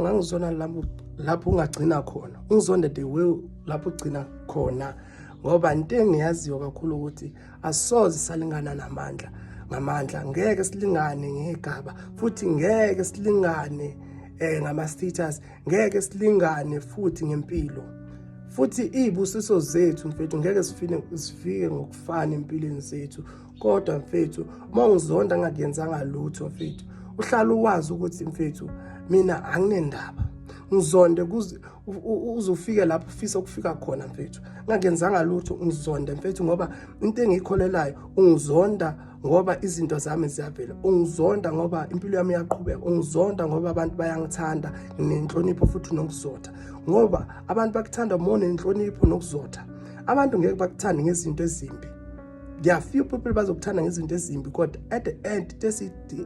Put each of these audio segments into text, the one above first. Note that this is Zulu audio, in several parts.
ngangizona lapho lapho ungagcina khona ungizonde the way lapho ugcina khona ngoba into engiyaziyo kakhulu ukuthi asoze salingana namandla ngamandla ngeke silingane ngegaba futhi ngeke silingane eh ngama status ngeke silingane futhi ngempilo futhi izibusiso zethu mfethu ngeke sifike sifike ngokufana empilweni zethu kodwa mfethu uma ungizonda ngakuyenzanga lutho mfethu uhlala uwazi ukuthi mfethu mina anginendaba ngizonde kuze uzofike lapho ufisa ukufika khona mfethu ngakenzanga lutho ungizonde mfethu ngoba into engiyikholelayo ungizonda ngoba izinto zami ziyavela ungizonda ngoba impilo yami iyaqhubeka ungizonda ngoba abantu bayangithanda nginenhlonipho futhi nokuzotha ngoba abantu bakuthanda uma unenhlonipho nokuzotha abantu ngeke bakuthande ngezinto ezimbi there are few people bazokuthanda ngezinto ezimbi kodwa at the end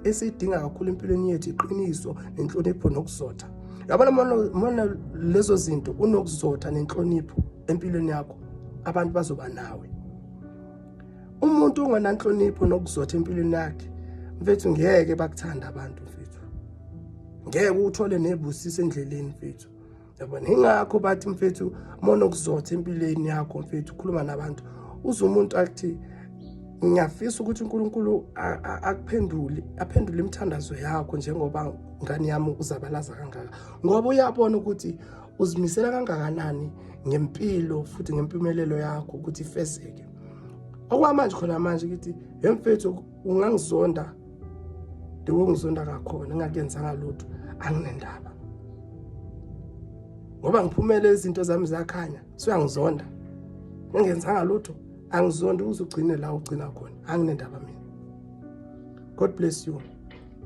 esiyidinga kakhulu empilweni yethu iqiniso nenhlonipho nokuzotha yabona mona lezo zinto unokuzotha nenhlonipho empilweni yakho abantu bazoba nawe umuntu ongenanhlonipho nokuzotha empilweni yakhe mfethu ngeke bakuthanda abantu mfethu ngeke uthole nebusiso endleleni mfethu yabona ingakho bathi mfethu mona okuzotha empilweni yakho mfethu ukhuluma nabantu uze umuntu athi ngiyafisa ukuthi uNkulunkulu akuphendule aphendule imithandazo yakho njengoba ngani yami uzabalaza kangaka ngoba uyabona ukuthi uzimisela kangakanani ngempilo futhi ngempumelelo yakho ukuthi ifezeke okwamanje khona manje ukuthi yemfethu ungangizonda the way ngizonda ngakhona ngingakenzanga lutho anginendaba ngoba ngiphumele izinto zami zakhanya suyangizonda ngingenzanga lutho angizondi uzugcine la ugcina khona anginendaba mina god bless you